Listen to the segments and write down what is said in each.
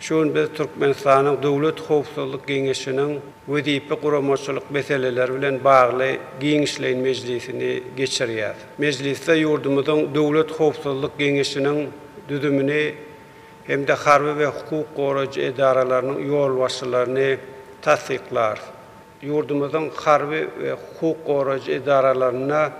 Şu gün biz Türkmenistanyň Döwlet howpsuzlyk geňeşiniň wezipe-guramaçylyk meseleleri bilen bagly giňişleýin mejlisini geçirýäris. Mejlisde ýurdumyzyň Döwlet howpsuzlyk geňeşiniň düzümini hem-de harby we hukuk goraýjy edaralarynyň ýolbaşçylaryny tassyklarys. Ýurdumyzyň harby we hukuk goraýjy edaralarynda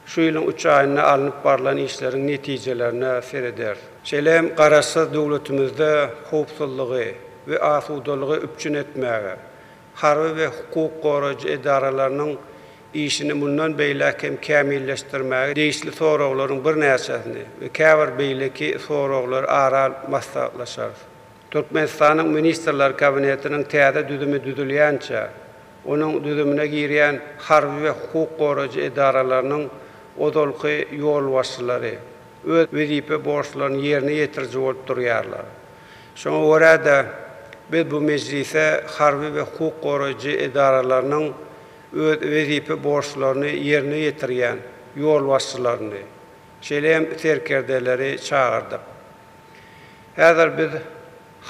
Şu ýylyň üç aýynda alnyp barlan işleriň netijelerine serederis. Şeýle hem Garaşsyz döwletimizde howpsuzlygy we asudalygy üpjün etmäge, harby we hukuk goraýjy edaralarynyň işini mundan beýläk hem kämilleşdirmäge degişli soraglaryň birnäçesini we käbir beýleki soraglary ara alyp maslahatlaşarys. Türkmenistanyň Ministrler Kabinetiniň täze düzümi düzülýänçä, onuň düzümine girýän harby we hukuk goraýjy edaralarynyň ozalky ýolbaşçylary öz wezipe borçlaryny ýerine ýetiriji bolup durýarlar. Şoňa görä-de, biz bu mejlise harby we hukuk goraýjy edaralarynyň öz wezipe borçlaryny ýerine ýetirýän ýolbaşçylaryny, şeýle hem serkerdeleri çagyrdyk. Häzir biz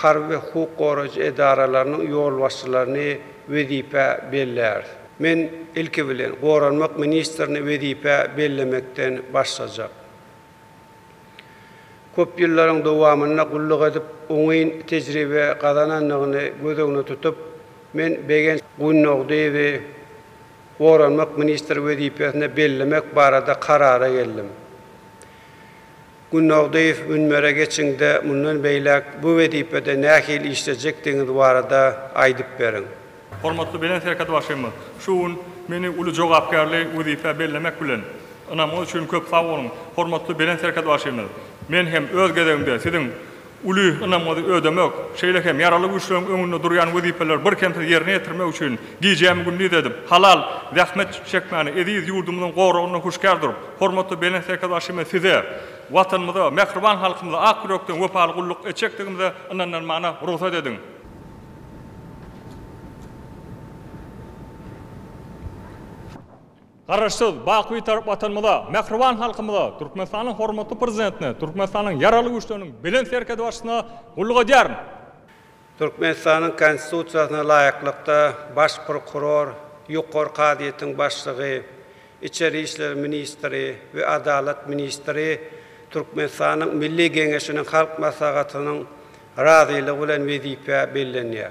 harby we hukuk goraýjy edaralarynyň ýolbaşçylaryny wezipä belläris. Men, ilki bilen, goranmak ministrini wezipä bellemekden başlajak. Köp ýyllaryň dowamynda gulluk edip, oňyn tejribe gazanandygyny göz öňüne tutup, men Begenç Gunnogdyýewi goranmak ministri wezipesine bellemek barada karara geldim. Gunnogdyýew münbere geçiňde mundan beýläk bu wezipede nähili işlejekdigiňiz barada aýdyp beriň. Hormatly Belent Serkerdbaşymyz şu gün meni uly jogapkärli wezipä bellemek bilen, ynamy üçin köp sag boluň. Hormatly Belent Serkerdbaşymyz, men hem öz gezegimde Siziň uly ynamyňyzy ödemek, şeýle hem Ýaragly Güýçleriň öňünde durýan wezipeleri birkemsiz ýerine ýetirmek üçin gijämi-gündiz edip, halal zähmet çekmäni, eziz ýurdumyzyň goragynda huşkar durup, hormatly Belent Serkerbaşymyz Size, Watanymyza, mähriban halkymyza ak ýürekden wepaly gulluk etjekdigimize ynandyrmagyna rugsat ediň. Garaşsyz, baky Bitarap Watanymyza, mähriban halkymyza, Türkmenistanyň hormatly Prezidentine, Türkmenistanyň Ýaragly Güýçleriniň Belent Serkerdebaşysyna gulluk edýärin. Türkmenistanyň Konstitusiýasyna laýyklykda, Baş prokuror, Ýokary kazyýetiň başlygy, Içeri işler ministri we Adalat ministri Türkmenistanyň Milli Geňeşiniň Halk Maslahatynyň razylygy bilen wezipä bellenýär.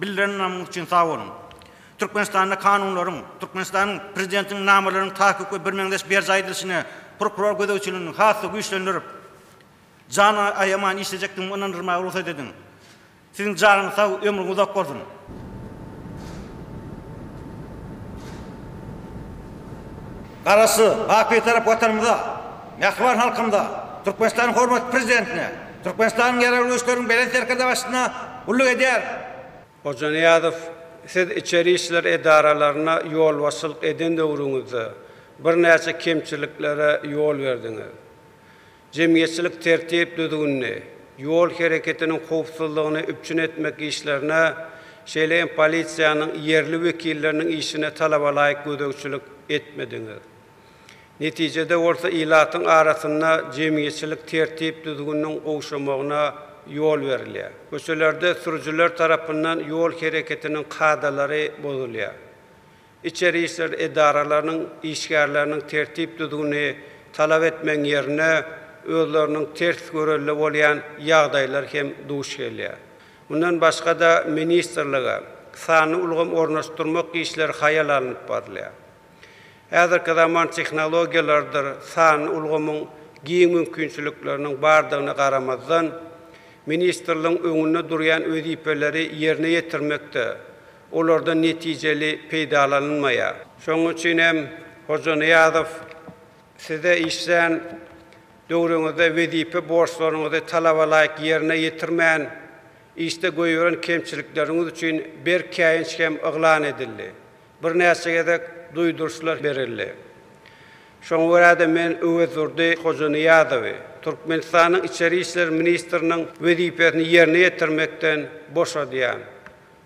Bildirenleriňiz üçin sag boluň. Türkmenistanda kanunlaryň, Türkmenistanyň Prezidentiniň namalarynyň takyk we birmeňzeş berjaý edilişine prokuror gözegçiligini has-da güýçlendirip, jan aýaman işlejekdigimi ynandyrmaga rugsat ediň. Siziň janyňyz sag, ömrüňiz uzak bolsun! Garaşsyz, bapytarap Watanymyza, mähriban halkymyza, Türkmenistanyň hormatly Prezidentine, Türkmenistanyň Ýaragly Güýçleriň Belent Serkerdesi başyna gulluk edýär. Hojanyýazow, siz içeri işler edaralaryna ýolbaşçylyk eden döwrüňizde birnäçe kemçiliklere ýol berdiňiz. Jemgyýetçilik tertip-düzgünini, ýol hereketiniň howpsuzlygyny üpjün etmek işlerine, şeýle hem polisiýanyň ýerli wekilleriniň işine talabalaýyk gözegçilik etmediňiz. Netijede bolsa ilatyň arasynda jemgyýetçilik tertip-düzgüniniň gowşamagyna ýol berilýär. Köçelerde sürüjiler tarapyndan ýol hereketiniň kadalary bozulýar. Içeri işler edaralarynyň işgärleriniň tertip-düzgüni talap etmegiň ýerine özleriniň ters görelde bolýan ýagdaýlar hem duş gelýär. Mundan başga-da ministrlige sanly ulgam ornaşdyrmak işleri haýal alnyp barylýar. Häzirki zaman tehnologiýalarydyr sanly ulgamyň giň mümkinçilikleriniň bardygyna garamazdan, ministrligiň öňünde durýan wezipeleri ýerine ýetirmekde olardan netijeli peýdalanylmaýar. Şonuň üçin hem Hojanyýazow size işlän döwrüňizde wezipe borçlaryňyzy talabalaýyk ýerine ýetirmän, işde goýberen kemçilikleriňiz üçin berk käýinç hem yglan edildi. Birnäçe gezek duýduryşlar berildi. Şoňa görä-de, men Öwezdurdy Hojanyýazowy Türkmenistanyň Içeri işler ministriniň wezipesini ýerine ýetirmekden boşadýan.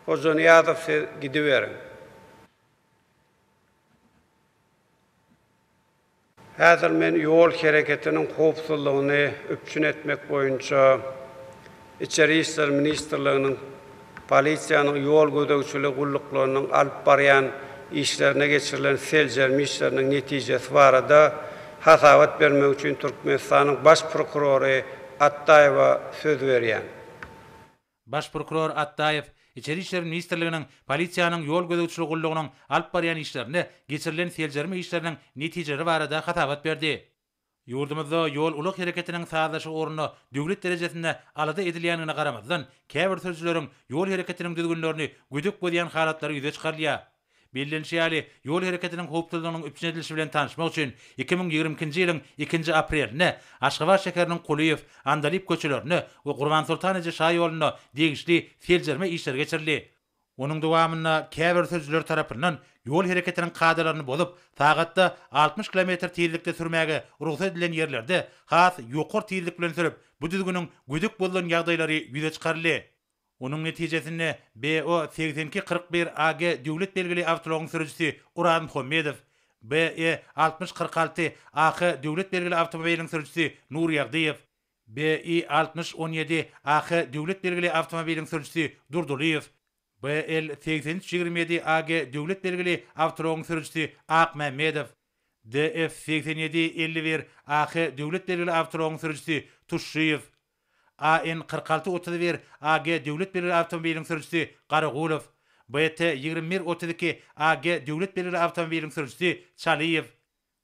Hojanyýazow siz gidiberiň. Häzir men ýol hereketiniň howpsuzlygyny üpjün etmek boýunça Içeri işler ministrliginiň polisiýanyň ýol gözegçiligi gulluklarynyň alyp barýan işlerine geçirilen seljerme işleriniň netijesi barada hasabat bermek üçin Türkmenistanyň Baş prokurory Atdaýewa söz berýän. Baş prokuror Atdaýew Içeri işler ministrliginiň Polisiýanyň ýol gözegçiligi gullugynyň alyp barýan işlerinde geçirilen seljerme işleriniň netijeleri barada hasabat berdi. Ýurdumyzda ýol-ulag hereketiniň sazlaşygy ugrunda döwlet derejesinde alada edilýändigine garamazdan, käbir sürüjileriň ýol hereketiniň düzgünlerini gödek bozýan halatlary ýüze çykarylýar. Bellenişi ýaly, ýol hereketiniň howpsuzlygynyň üpjün edilişi bilen tanyşmak üçin iki müň ýigrimi ikinji ýylyň ikinji aprelinde Aşgabat şäheriniň Kulyýew, Andalyp köçelerinde we Gurbansoltan eje şaýolunda degişli seljerme işleri geçirildi. Onuň dowamynda käbir sürüjiler tarapyndan ýol hereketiniň kadalaryny bozup, sagatda altmyş kilometr tizlikde sürmäge rugsat edilen ýerlerde has ýokary tizlik bilen sürüp, bu düzgüniň gödek bozulan ýagdaýlary ýüze çykaryldy. Onuň netijesinde BO segsen iki kyrk bir AG döwlet belgili awtoulagyň sürüjisi Oraz Muhammedow, BE altmyş kyrk alty AK döwlet belgili awtomobiliň sürüjisi Nur Ýagdyýew, BI altmyş on ýedi AK döwlet belgili awtomobiliň sürüjisi Durdylyýew, BL segsen üç ýigrimi ýedi AG döwlet belgili awtoulagyň sürüjisi Akmämmedow, DF segsen ýedi elli bir AK döwlet belgili awtoulagyň sürüjisi Tuşşyýew, AN kyrk alty otuz bir AG döwlet belgili awtomobiliň sürüjisi, Garagulow. BT ýigrimi bir otuz iki AG döwlet belgili awtomobiliň sürüjisi, Çalyýew.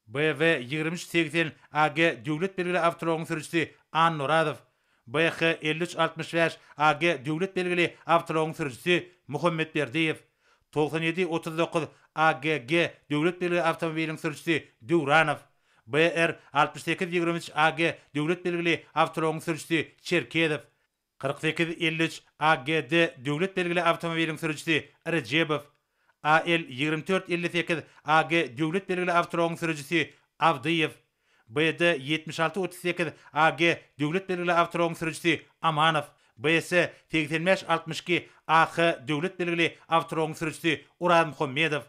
BV ýigrimi üç segsen AG döwlet belgili awtoulagyň sürüjisi, Annoradow. BH elli üç altmyş bäş AG döwlet belgili awtoulagyň sürüjisi, Muhammetberdiýew. Togsan ýedi otuz dokuz AGG döwlet belgili awtomobiliň sürüjisi, Döwranow. BR altmyş sekiz ýigrimi üç AG döwlet belgili awtoulagyň sürüjisi Çerkezow. Kyrk sekiz elli üç AGD döwlet belgili awtomobiliň sürüjisi Rejebow. AL ýigrimi dört elli sekiz AG döwlet belgili awtoulagyň sürüjisi Abdyýew. BD ýetmiş alty otuz sekiz AG döwlet belgili awtoulagyň sürüjisi Amanow. BS segsen bäş altmyş iki AH döwlet belgili awtoulagyň sürüjisi Urazmuhammedow.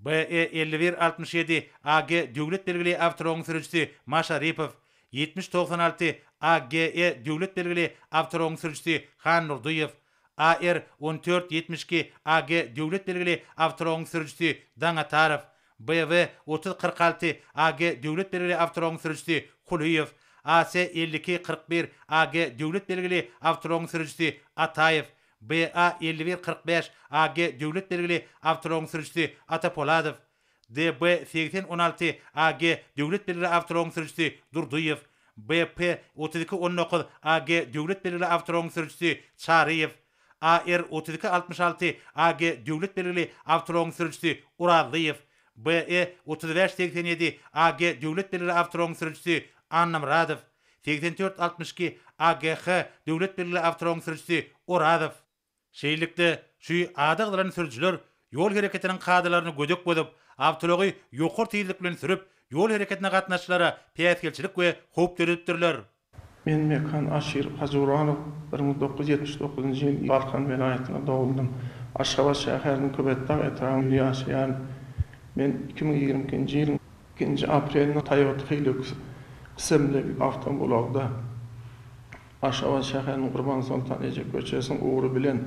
BE elli bir altmyş ýedi AG döwlet belgili awtoulogyň sürüjisi Maşa Ripow, ýetmiş togsan alty AGE döwlet belgili awtoulogyň sürüjisi Han Nurdyýew, AR on dört ýetmiş iki AG döwlet belgili awtoulogyň sürüjisi Daňatarow, BW otuz kyrk alty AG döwlet belgili awtoulogyň sürüjisi Kulyýew, AC elli iki kyrk bir AG döwlet belgili awtoulogyň sürüjisi Ataýew, BA elli bir kyrk bäş AG döwlet belgili awtoulagyň sürüjisi Ata Poladow, DB segsen on alty AG döwlet belgili awtoulagyň sürüjisi Durdyýew, BP otuz iki on dokuz AG döwlet belgili awtoulagyň sürüjisi Çaryýew, AR otuz iki altmyş alty AG döwlet belgili awtoulagyň sürüjisi Orazlyýew, BE otuz bäş segsen ýedi AG döwlet belgili awtoulagyň sürüjisi Annamyradow, Segsen dört altmyş iki AGH döwlet belgili awtoulagyň sürüjisi Orazow. Şeýlelikde, şu ada gyzylan sürüjiler ýol hereketiniň kadalaryny gödek bozup, awtoulagy ýokary tizlik bilen sürüp, ýol hereketine gatnaşyjylara päsgelçilik we howp döredipdirler. Men Mekan Aşir Hajyuronow, bir müň dokuz ýüz ýetmiş dokuzynjy ýyl Balkan welaýatynda dogdum. Aşgabat şäheriniň Köpetdag etrabynda ýaşaýaryn. Men iki müň ýigrimi ikinji ýylyň. Nji aprelde Toyota Hilux ismli awtoulagda Aşgabat şäheriniň Gurbansoltan eje köçesiniň ugry bilen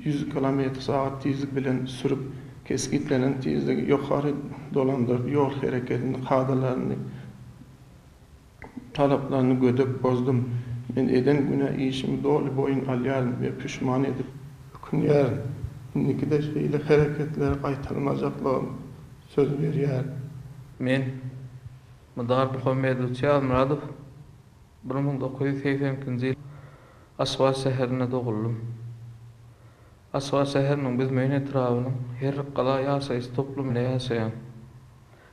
ýüz kilometr sagat tizlik bilen sürüp, kesgitlenen tizligi ýokary dolandyryp, ýol hereketini kadalaryny, talaplaryny gödek bozdum. Men eden günä işimi doly boýun alýaryn we püşman edip, ökünýärin. Indiki-de şeýle hereketleri gaýtalmajaklygymy söz berýärin. Men, Mydar Muhammedowitç Ýazmyradow, bir müň dokuz ýüz segsen ikinji ýyl Aşgabat şäherinde doguldym. Aşgabat şäheriniň Büzmeýin etrabynyň Herrikgala ýaşaýyş toplumynda ýaşaýan.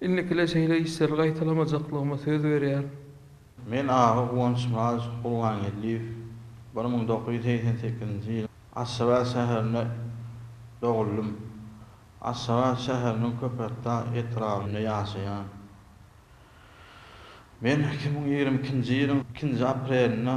Indikile şeýle işleri gaýtalamajaklygyma söz berýän. Men aga Guwançmyrat Gurbangeldiýew bir müň dokuz ýüz segsen sekizinji ýyl Aşgabat şäherinde doguldym. Aşgabat şäheriniň Köpetdag etrabynda ýaşaýan. Men iki müň ýigrimi ikinji ýylyň ikinji aprelinde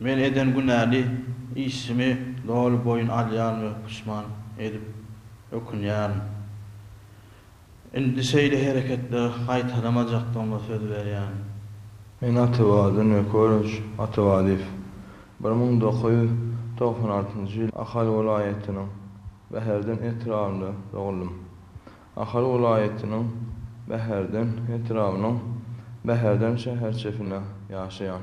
Men eden günäli işimi doly boýun alýaryn we puşman edip ökünýärin. Indi şeýle hereketleri gaýtalamajakdygyma söz berýärin. Men Atabadyň Ökoloç Atabadyýew. Bir müň dokuz ýüz togsan altynjy ýyl Ahal welaýatynyň Bäherden etrabynda dogluldym. Ahal welaýatynyň Bäherden etrabynyň Bäherden şäherçesinde ýaşaýan.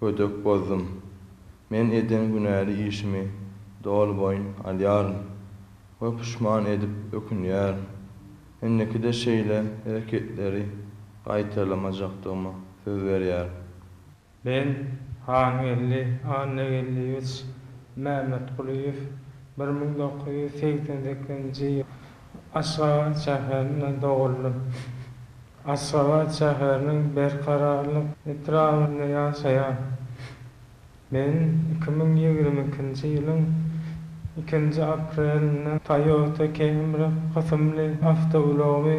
Gödek bozdum. Men eden günäli işimi doly boýun alýaryn we puşman edip ökünýärin. Indiki-de şeýle hereketleri gaýtalamajakdygyma söz berýärin. Ben, Hangeldi Annageldiýewiç Mämmetgulyýew, bir müň dokuz ýüz segsen sekizinji Aşgabat şäherinde doguldym. Aşgabat şäheriniň Berkararlyk etrabynda ýaşaýan. Men iki müň ýigrimi ikinji ýylyň ikinji aprelinde Toyota Camry kysymly awtoulagymy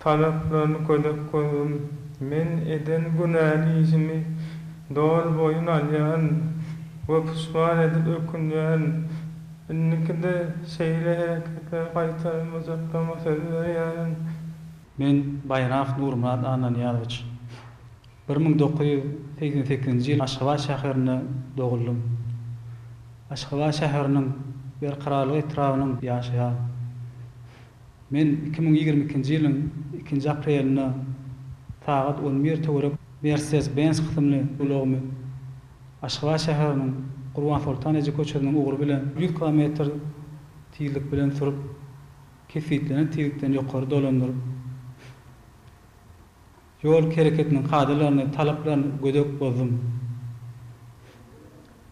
Talaplaryny gözek gözüm. Men eden günäli işimi doly boýun alýan we puşman edip ökünýän. Indiki-de şeýle hereketleri gaýtalamajaklaryma söz berýärin. Men Baýramow Nurmyrat Annanyýazowiç. Bir müň dokuz ýüz segsen sekizinji ýyl Aşgabat şäherinde doguldym. Aşgabat şäheriniň Berkararlyk etrabynyň ýaşaýaryn. Men iki müň ýigrimi ikinji ýylyň ikinji aprelinde sagat on bir töwerek Mercedes-Benz kysymly ulagymy Aşgabat şäheriniň Gurbansoltan eje köçesiniň ugry bilen ýüz kilometr tizlik bilen sürüp, kesgitlenen tizlikden ýokary dolandyryp, Ýol hereketiniň kadalaryny, talaplaryny gödek bozdum.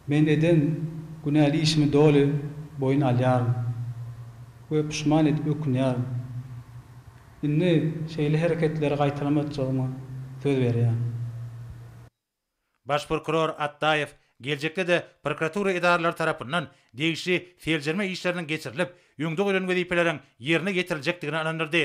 Men eden günäli işimi doly boýun alýaryn we puşman edip ökünýärin. Indi şeýle hereketleri gaýtalamajakdygyma söz berýän. Baş prokuror Atdaýew geljekde-de prokuratura edaralary tarapyndan degişli seljerme işleriniň geçirilip, öňde goýlan wezipeleriň ýerine ýetiriljekdigine ynandyrdy.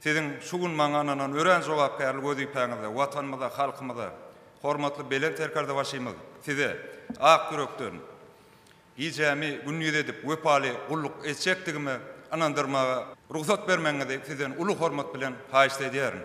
Siziň şu gün maňa ynanan örän jogapkärli wezipäňizde Watanymyza, halkymyza, hormatly Belent Serkerdebaşymyz Size ak ýürekden, gijämi gündiz edip wepaly gulluk etjekdigimi ynandyrmaga rugsat bermegiňizi Sizden uly hormat bilen haýyşt edýärin.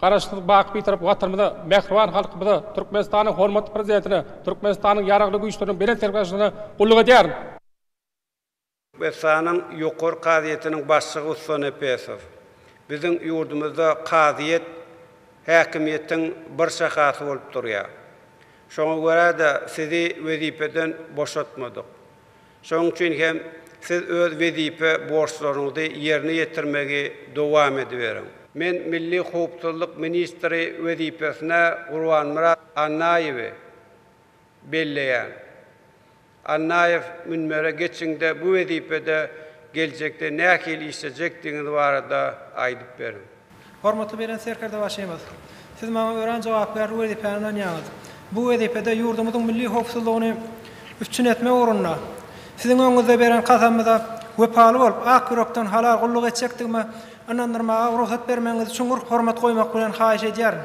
Garaşsyz, baky Bitarap Watanymyza, mähriban halkymyza, Türkmenistanyň hormatly Prezidentine, Türkmenistanyň Ýaragly Güýçleriniň Belent Serkerdeşligine gulluk edýärin. Türkmenistanyň Ýokary kazyýetiniň başlygy Ussa Nepesow, Biziň ýurdumyzda kazyýet häkimiýetiň bir şahasy bolup durýar. Şoňa görä-de, sizi wezipeden boşatmadyk. Şonuň üçin hem siz öz wezipe borçlaryňyzy ýerine ýetirmegi dowam ediberiň. Men milli howpsuzlyk ministri wezipesine Gurbanmyrat Annaýewi belleýän. Annaýew münbere geçiňde bu wezipede geljekde nähili işlejekdigiňiz barada aýdyp beriň. Hormatly Belent Serkerdebaşymyz! Siz maňa örän jogapkärli wezipäni ynanýaňyz. Bu wezipede ýurdumyzyň milli howpsuzlygyny üpjün etmek ugrunda Siziň öňüňizde beren kasamyza wepaly bolup, ak ýürekden halal gulluk etjekdigime ynandyrmaga rugsat bermegiňizi çuňňur hormat goýmak bilen haýyş edýärin.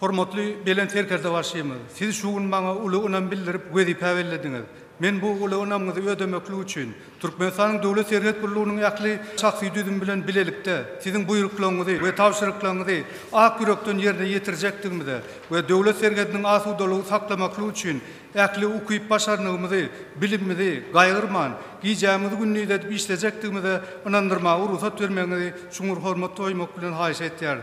Hormatly Belent Serkerdebaşymyz, Siz şu gün maňa uly ynam bildirip, wezipä bellediňiz. Men bu uly ynamyňyzy ödemeklik üçin, Türkmenistanyň Döwlet serhet gullugynyň ähli şahsy düzümi bilen bilelikde, Siziň buýruklaryňyzy we tabşyryklaryňyzy ak ýürekden ýerine ýetirjekdigimize we döwlet serhediniň asudalygy saklamaklyk üçin ähli ukyp-başarnygymyzy, bilimimizi gaýgyrman, gijämizi-gündizi edip işlejekdigimize ynandyrmaga rugsat bermegiňizi çuňňur hormat goýmak bilen haýyş etýäris.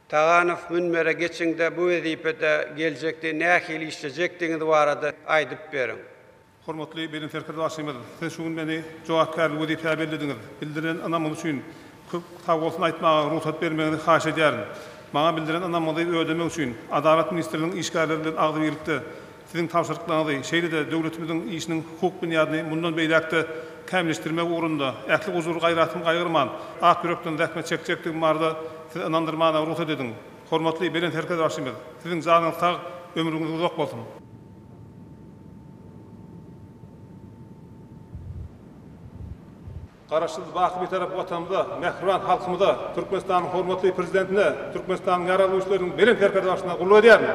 Taganow münbere geçiňde bu wezipede geljekde nähili işlejekdigiňiz barada aýdyp beriň. Hormatly Belent Serkerbaşymyz, Siz şu gün meni jogapkärli wezipä bellediňiz. Bildiren ynamyňyz üçin köp sagbolsun aýtmaga rugsat bermegiňizi haýyş edýärin. Maňa bildiren ynamyňyzy ödemek üçin Adalat ministrliginiň işgärleri bilen agzybirlikde Siziň tabşyryklaryňyzy, şeýle-de döwletimiziň işiniň hukuk binýadyny mundan beýläk-de kämilleşdirmek ugrunda ähli gujur-gaýratymy gaýgyrman, ak ýürekden zähmet çekjekdigim barada Sizi ynandyrmana rugsat ediň. Hormatly Belent Serkerdäşimiz, Siziň janyňyz sag, ömrüňiz uzak bolsun! Garaşsyz, baky Bitarap Watanymyza, mähriban halkymyza, Türkmenistanyň hormatly Prezidentine, Türkmenistanyň Ýaragly Güýçleriniň Belent Serkerdäşine gulluk edýärin.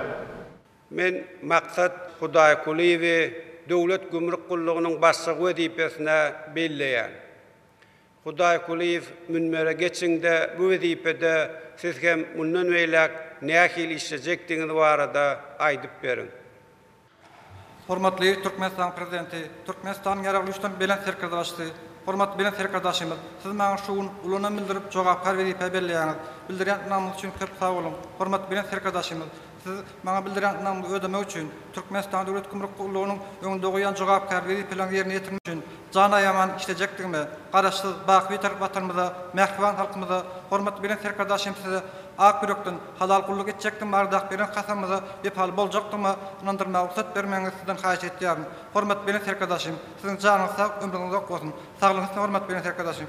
Men Maksat Hudaýkulyýewi Döwlet gümrük gullugynyň başlygy wezipesine belleýän. Hudaýkulyýew münbere geçiňde bu wezipede siz hem mundan beýläk nähili işlejekdigiňiz barada aýdyp beriň. Hormatly Türkmenistanyň Prezidenti, Türkmenistanyň Ýaragly Güýçleriniň Belent Serkerdaşysy, hormatly Belent Serkerdaşymyz, siz maňa şu gün uly ynam bildirip, jogapkär wezipä belleýäňiz. Bildirýän ynamyňyz üçin köp sag boluň. Hormatly Belent Serkerdaşymyz! Siz maňa bildirýän ynamyňyzy ödemek üçin, Türkmenistan Döwlet gümrük gullugynyň öňünde goýan jogapkär wezipeleriňizi ýerine ýetirmek üçin jan aýaman işlejekdigime, Garaşsyz, baky Bitarap Watanymyza, mähriban halkymyza, hormatly Belent Serkerdaşym Size ak ýürekden, halal gulluk etjekdigim baradaky beren kasamyňyza wepaly boljakdygyma ynandyrmaga rugsat bermegiňizi Sizden haýyş edýärin, hormatly Belent Serkerdaşym! Siziň janyňyz sag, ömrüňiz uzak bolsun! Saglygyňyz üstün, hormatly Belent Serkerdaşym!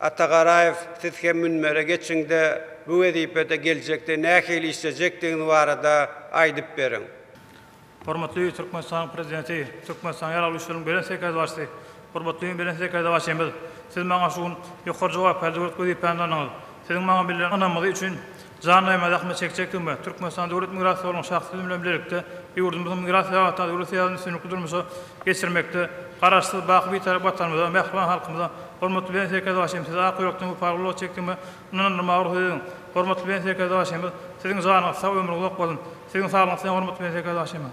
Atagaraýew siz hem münbere geçiňde bu wezipede geljekde nähili işlejekdigiňiz barada aýdyp beriň. Hormatly Türkmenistanyň Prezidenti, Türkmenistanyň Ýaragly Güýçleriniň Belent Serkerdebaşysy, hormatly Belent Serkerdebaşymyz, Siz maňa şu gün ýokary jogapkärli döwlet wezipäni tananyňyz. Siziň maňa bildiren ynamyňyz üçin Janlyjaýyma zähmet çekjek hümmä, Türkmenistan Döwlet migrasiýa gullugynyň şahsy düzümi bilen bilelikde ýurdumyzyň migrasiýa babatdaky döwlet syýasatyny üstünlikli durmuşa geçirmekde Garaşsyz, baky Bitarap Watanymyza, mähriban halkymyza, hormatly Belent Serkerdebaşymyz sizi ak ýürekden wepaly gulluk etjek hümmä ynandyrmaga rugsat ediň. Hormatly Belent Serkerdebaşymyz, Siziň janyňyz sag, ömrüňiz uzak bolsun! Siziň saglygyňyz size, hormatly Belent Serkerdebaşymyz!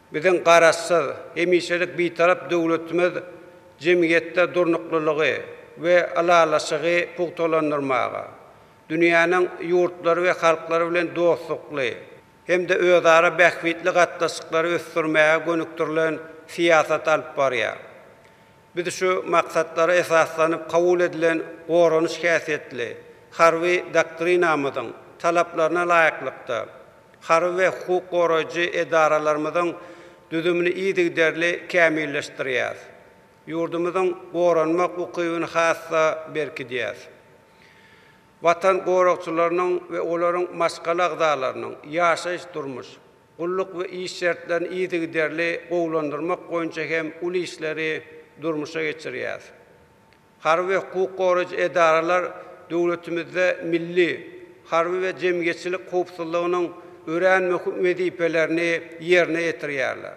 Biziň Garaşsyz, hemişelik Bitarap döwletimiz jemgyýetde durnuklylygy we ylalaşygy pugtalandyrmaga, dünýäniň ýurtlary we halklary bilen dostlukly hem-de özara bähbitli gatnaşyklary ösdürmäge gönükdirilen syýasaty alyp barýar. Biz şu maksatlara esaslanyp kabul edilen goranyş häsiýetli Harby doktrinamyzyň talaplaryna laýyklykda, harby we hukuk goraýjy edaralarymyzyň düzümini yzygiderli kämilleşdirýäris. Ýurdumyzyň goranmak ukybyny has-da berkidýäris. Watan goragçylarynyň we olaryň maşgala agzalarynyň ýaşaýyş-durmuş, Gulluk we iş şertlerini yzygiderli gowulandyrmak boýunça hem uly işleri durmuşa geçirýär. Harby we hukuk goraýjy edaralar döwletimizde milli, harby we jemgyýetçilik howpsuzlygynyň örän möhüm wezipelerini ýerine ýetirýärler.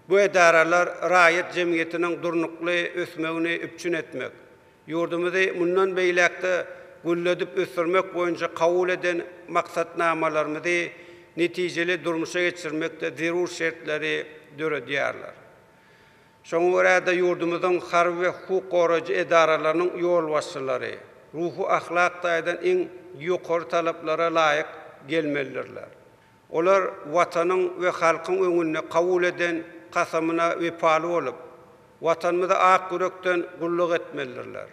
Bu edaralar raýat jemgyýetiniň durnukly ösmegini üpjün etmek, Ýurdumyzy mundan beýläk-de gülledip ösdürmek boýunça kabul eden maksatnamalarymyzy netijeli durmuşa geçirmekde zerur şertleri döredýärler. Şoňa görä-de, ýurdumyzyň harby we hukuk goraýjy edaralarynyň ýolbaşçylary ruhy-ahlak taýdan iň ýokary talaplara laýyk gelmelidirler. Olar Watanyň we halkyň öňünde kabul eden kasamyna wepaly bolup, Watanymyza ak ýürekden gulluk etmelidirler.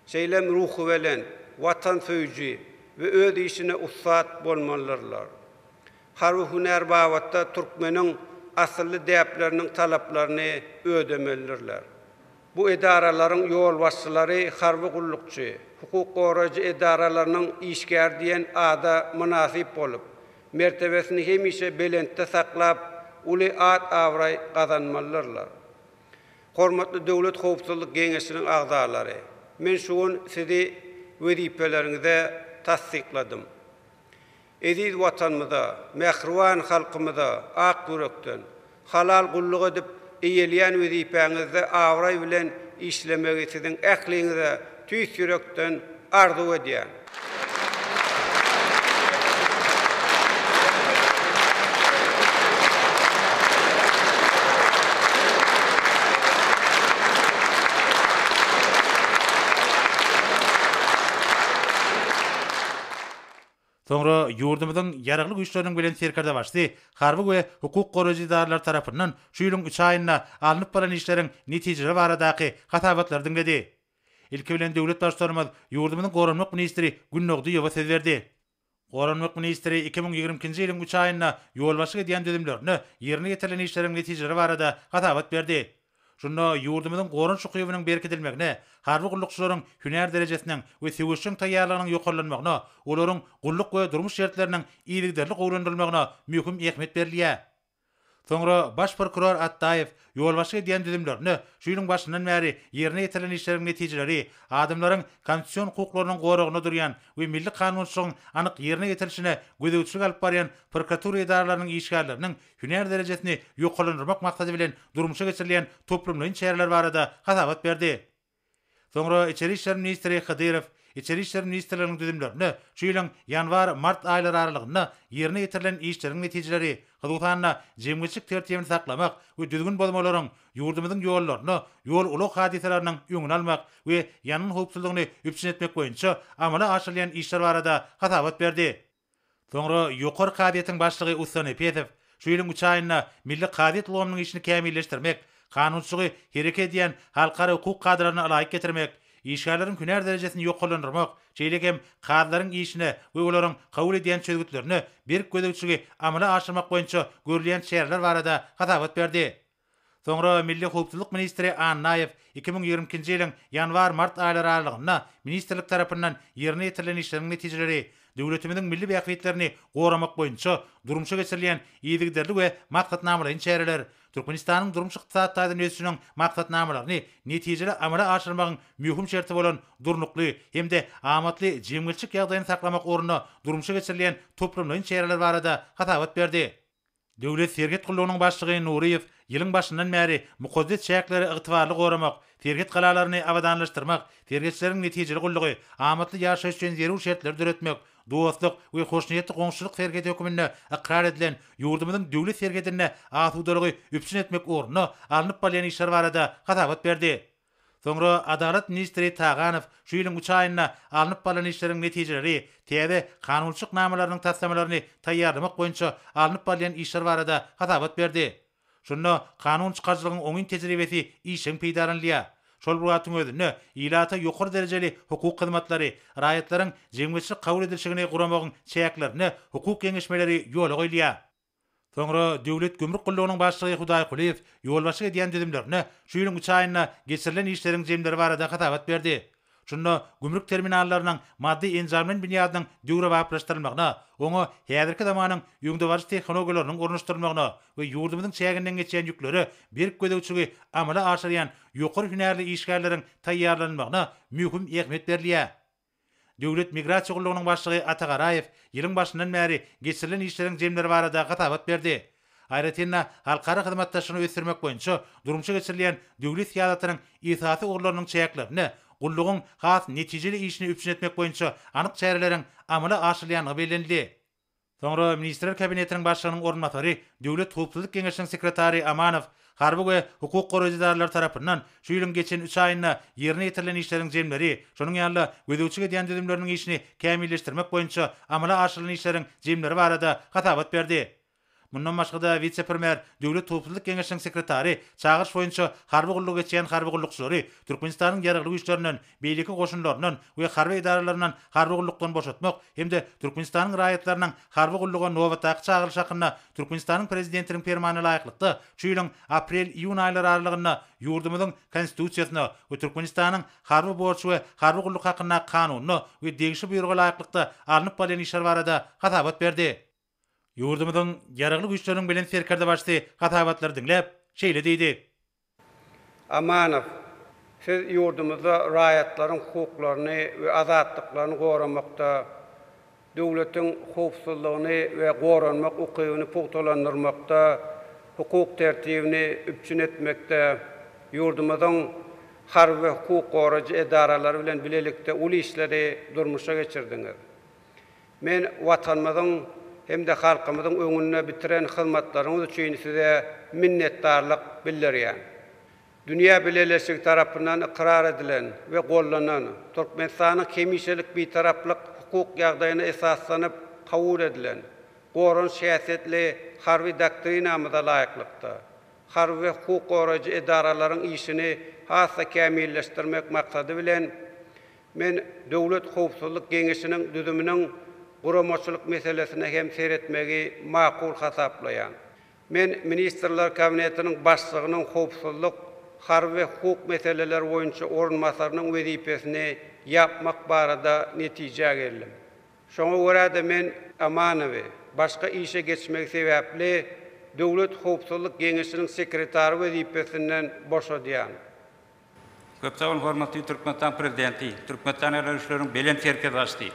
Şeýle hem ruhubelent, watansöýüji we öz işine ussat bolmalydyrlar. Harby hünär babatda türkmeniň asylly däpleriniň talaplaryny ödemelidirler. Bu edaralaryň ýolbaşçylary harby gullukçy, hukuk goraýjy edaralarynyň işgäri diýen ada mynasyp bolup, mertebesini hemişe belentde saklap, uly at-abraý gazanmalydyrlar. Hormatly Döwlet howpsuzlyk geňeşiniň agzalary, men şu gün sizi wezipeleriňize tassykladym. Eziz Watanymyza, mähriban halkymyza ak ýürekden, halal gulluk edip, eýeleýän wezipäňizde abraý bilen işlemegi siziň ähliňize tüýs ýürekden arzuw edýän. Soňra ýurdumyzyň Ýaragly Güýçleriniň Belent Serkerdebaşysy harby we hukuk goraýjy edaralar tarapyndan şu ýylyň üç aýynda alnyp baran işleriň netijeleri baradaky hasabatlary diňledi. Ilki bilen döwlet Baştutanymyz ýurdumyzyň Goranmak ministri Gün Nogdyýewa söz berdi. Goranmak ministri iki müň ýigrimi ikinji ýylyň üç aýynda ýolbaşçylyk edýän düzümlerinde ýerine ýetirilen işleriň netijeleri barada hasabat berdi. Şunda ýurdumyzyň goranyş ukybynyň berkidilmegine, harby gullukçylaryň hünär derejesiniň we söweşjeň taýýarlygynyň ýokarlanmagyna, olaryň gulluk we durmuş şertleriniň yzygiderli gowulandyrylmagyna möhüm ähmiýet berilýär. Soňra baş prokuror Atdaýew ýolbaşçylyk edýän düzümlerinde şu ýylyň başyndan bäri ýerine ýetirilen işleriň netijeleri, adamlaryň konstitusion hukuklarynyň goragynda durýan we milli kanunçylygyň anyk ýerine ýetirilişine gözegçilik alyp barýan prokuratura edaralarynyň işgärleriniň hünär derejesini ýokarlandyrmak maksady bilen durmuşa geçirilýän toplumlaýyn çäreler barada hasabat berdi. Soňra Içeri işler ministri Hydyrow Içeri işler ministrliginiň düzümlerinde şu ýylyň ýanwar, mart aýlary aralygynda ýerine ýetirilen işleriň netijeleri, hususan-da, jemgyýetçilik tertibini saklamak we düzgün bozmalaryň ýurdumyzyň ýollaryna ýol-ulag hadysalarynyň öňüni almak we ýangyn howpsuzlygyny üpjün etmek boýunça amala aşyrylýan işler barada hasabat berdi. Soňra Ýokary kazyýetiň başlygy Ussan Epesow şu ýylyň üç aýynda milli kazyýet ulgamynyň işini kämilleşdirmek, kanunçylygy hereket edýän halkara hukuk kadalaryna ylaýyk getirmek, işgärleriň hünär derejesini ýokarlandyrmak, şeýle hem kazylaryň işine we olaryň kabul edýän çözgütlerine berk gözegçiligi amala aşyrmak boýunça görülýän çäreler barada hasabat berdi. Soňra milli howpsuzlyk ministri Annaýew iki müň ýigrimi ikinji ýylyň ýanwar-mart aýlary aralygynda ministrlik tarapyndan ýerine ýetirilen işleriň netijeleri, döwletimiziň milli bähbitlerini goramak boýunça durmuşa geçirilýän yzygiderli we maksatnamalaýyn çäreler Türkmenistanyň durmuş-ykdysady taýdan ösüşiniň maksatnamalaryny netijeli amala aşyrmagyň möhüm şerti bolan durnukly hem-de amatly jemgyýetçilik ýagdaýyny saklamak ugrunda durmuşa geçirilýän toplumlaýyn çäreler barada hasabat berdi. Döwlet serhet gullugynyň başlygy Nuryýew ýylyň başyndan bäri mukaddes çäkleri ygtybarly goramak, serhet galalaryny abadanlaşdyrmak, serhetçileriň netijeli gullugy, amatly ýaşaýyş üçin zerur şertleri döretmek, dostluk we hoşniýetli goňşuçylyk serhedi höküminde ykrar edilen ýurdumyzyň döwlet serhedinde asudalygy üpjün etmek ugrunda alnyp barylýan işler barada hasabat berdi. Soňra Adalat ministri Taganow şu ýylyň üç aýynda alnyp barlan işleriň netijeleri, täze kanunçylyk namalarynyň taslamalaryny taýýarlamak boýunça alnyp barylýan işler barada hasabat berdi. Şunda kanun çykaryjylygyň oňyn tejribesi işjeň peýdalanylýar. Şol bir wagtyň özünde ilata ýokary derejeli hukuk hyzmatlary, raýatlaryň jemgyýetçilik kabul edilşigini guramagyň çäklerinde hukuk geňeşmeleri ýola goýulýar. Soňra Döwlet gümrük gullugynyň başlygy Hudaý Kulyýew ýolbaşçylyk edýän düzümlerine şu ýylyň üç aýynda geçirilen işleriň jemleri barada hasabat berdi. Şunda gümrük terminallarynyň maddy-enjamlaýyn binýadynyň döwrebaplaşdyrylmagyna, oňa häzirki zamanyň öňdebaryjy tehnologiýalarynyň ornaşdyrylmagyna we ýurdumyzyň çäginden geçýän ýüklere berk gözegçiligi amala aşyrýan ýokary hünärli işgärleriň taýýarlanylmagyna möhüm ähmiýet berilýär. Döwlet migrasiýa gullugynyň başlygy Ata Garaýew ýylyň başyndan bäri geçirilen işleriň jemleri barada hasabat berdi. Aýratyn-da, halkara hyzmatdaşlygyny ösdürmek boýunça durmuşa geçirilýän döwlet syýasatynyň esasy ugurlarynyň çäklerinde gullugyň has netijeli işini üpjün etmek boýunça anyk çäreleriň amala aşyrylýandygy bellenildi. Soňra Ministrler Kabinetiniň Başlygynyň orunbasary, Döwlet howpsuzlyk geňeşiniň sekretary Amanow harby we hukuk goraýjy edaralary tarapyndan şu ýylyň geçen üç aýynda ýerine ýetirilen işleriň jemleri, şonuň ýaly-da gözegçilik edýän düzümleriniň işini kämilleşdirmek boýunça amala aşyrylan işleriň jemleri barada hasabat berdi. Mundan başga-da, wise-premýer Döwlet howpsuzlyk geňeşiniň sekretary çagyryş boýunça harby gullugy geçýän harby gullukçylary Türkmenistanyň Ýaragly Güýçlerinden, beýleki goşunlaryndan we harby edaralaryndan harby gullukdan boşatmak hem-de Türkmenistanyň raýatlarynyň harby gulluga nobatdaky çagyrylyşy hakynda Türkmenistanyň Prezidentiniň Permanyna laýyklykda şu ýylyň aprel-iýun aýlary aralygynda ýurdumyzyň Konstitusiýasyna we Türkmenistanyň Harby borç we harby gulluk hakyndaky Kanunyna we degişli Buýruga laýyklykda alnyp barylýan işler barada hasabat berdi. Ýurdumyzyň Ýaragly Güýçleriniň Belent Serkerdebaşysy hasabatlary diňläp, şeýle diýdi. Amanow, Siz ýurdumyzda raýatlaryň hukuklaryny we azatlyklaryny goramakda, döwletiň howpsuzlygyny we goranmak ukybyny pugtalandyrmakda, hukuk tertibini üpjün etmekde, ýurdumyzyň harby we hukuk goraýjy edaralary bilen bilelikde uly işleri durmuşa geçirdiňiz. Men Watanymyzyň hem-de halkymyzyň öňünde bitiren hyzmatlaryňyz üçin Size minnetdarlyk bildirýän. Dünýä bileleşigi tarapyndan ykrar edilen we goldanan, Türkmenistanyň hemişelik Bitaraplyk hukuk ýagdaýyna esaslanyp kabul edilen goranyş häsiýetli Harby doktrinamyza laýyklykda, harby we hukuk goraýjy edaralaryň işini has-da kämilleşdirmek maksady bilen, Men Döwlet howpsuzlyk geňeşiniň düzüminiň guramaçylyk meselesine hem seretmegi makul hasaplaýan. Men Ministrler Kabinetiniň Başlygynyň howpsuzlyk, harby we hukuk meseleleri boýunça orunbasarynyň wezipesini ýapmak barada netijä geldim. Şoňa görä-de men Amanowy, başga işe geçmegi sebäpli, Döwlet howpsuzlyk geňeşiniň sekretary wezipesinden boşadýan. Köp sag boluň hormatly Türkmenistan Prezidenti, Türkmenistan Ýarag güýçleriniň Belent Serkerdeşsi!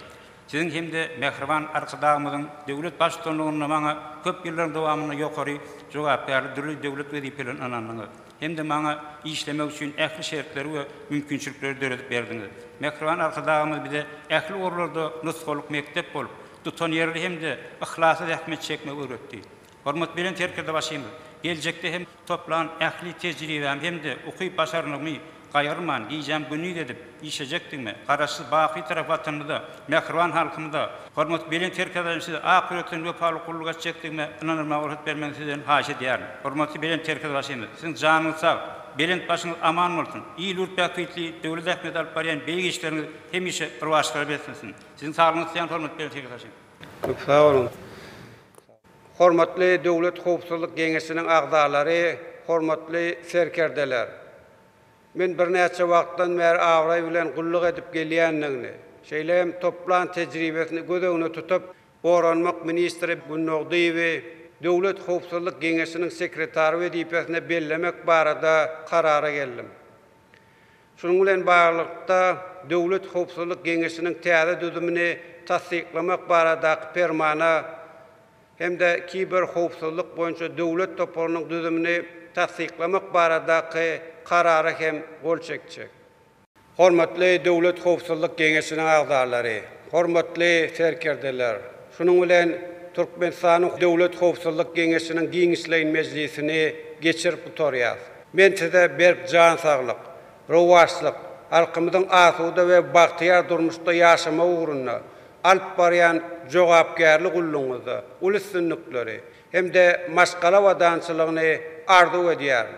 Siziň hem-de mähriban Arkadagymyzyň döwlet Baştutanlygynda maňa köp ýyllaryň dowamynda ýokary jogapkärli dürli döwlet wezipelerini ynandyňyz hem-de maňa işlemek üçin ähli şertleri we mümkinçilikleri döredip berdiňiz. Mähriban Arkadagymyz bize ähli ugurlarda nusgalyk mekdep bolup, tutanýerli hem-de yhlasly zähmet çekmegi öwretdi. Hormatbelent Serkerdebaşymyz geljekde hem toplan ähli tejribämi hem-de ukyp-başarnygymy gaýgyrman, gijäm-gündiz edip işlejekdigime, Garaşsyz, baky Bitarap Watanymyza, mähriban halkymyza, hormatbelent Serkerdebaşymyza ak ýürekden wepaly gulluk etjekdigime ynanylmaga rugsat bermegiňizi sizden haýyş edýärin. Hormatly Belent Serkerdebaşymyz, siziň janyňyz sag, belent başyňyz aman bolsun, il-ýurt bähbitli döwlet ähmiýeti alyp barýan beýik işleriňiz hemişe rowaçlyklara beslensin. Siziň saglygyňyzy isleýän hormatly Belent Serkerdebaşymyz. Köp sag boluň. Hormatly Döwlet howpsuzlyk geňeşiniň agzalary, hormatly serkerdeler! Men birnäçe wagtdan bäri abraý bilen gulluk edip gelýändigini, şeýle hem toplan tejribesini göz öňüne tutup, Goranmak ministri Günnogdyýewi Döwlet howpsuzlyk geňeşiniň sekretary wezipesine bellemek barada karara geldim. Şunuň bilen baglylykda, Döwlet howpsuzlyk geňeşiniň täze düzümini tassyklamak baradaky Permana hem-de Kiberhowpsuzlyk boýunça döwlet toparynyň düzümini tassyklamak baradaky Karara hem gol çekjek. Hormatly Döwlet howpsuzlyk geňeşiniň agzalary, hormatly serkerdeler! Şunuň bilen Türkmenistanyň Döwlet howpsuzlyk geňeşiniň giňişleýin mejlisini geçirip gutarýarys. Men size berk jan saglyk, rowaçlyk, halkymyzyň asuda we bagtyýar durmuşda ýaşamagy ugrunda alyp barýan jogapkärli gullugyňyzda uly üstünlikleri hem-de maşgala abadançylygyny arzuw edýärin.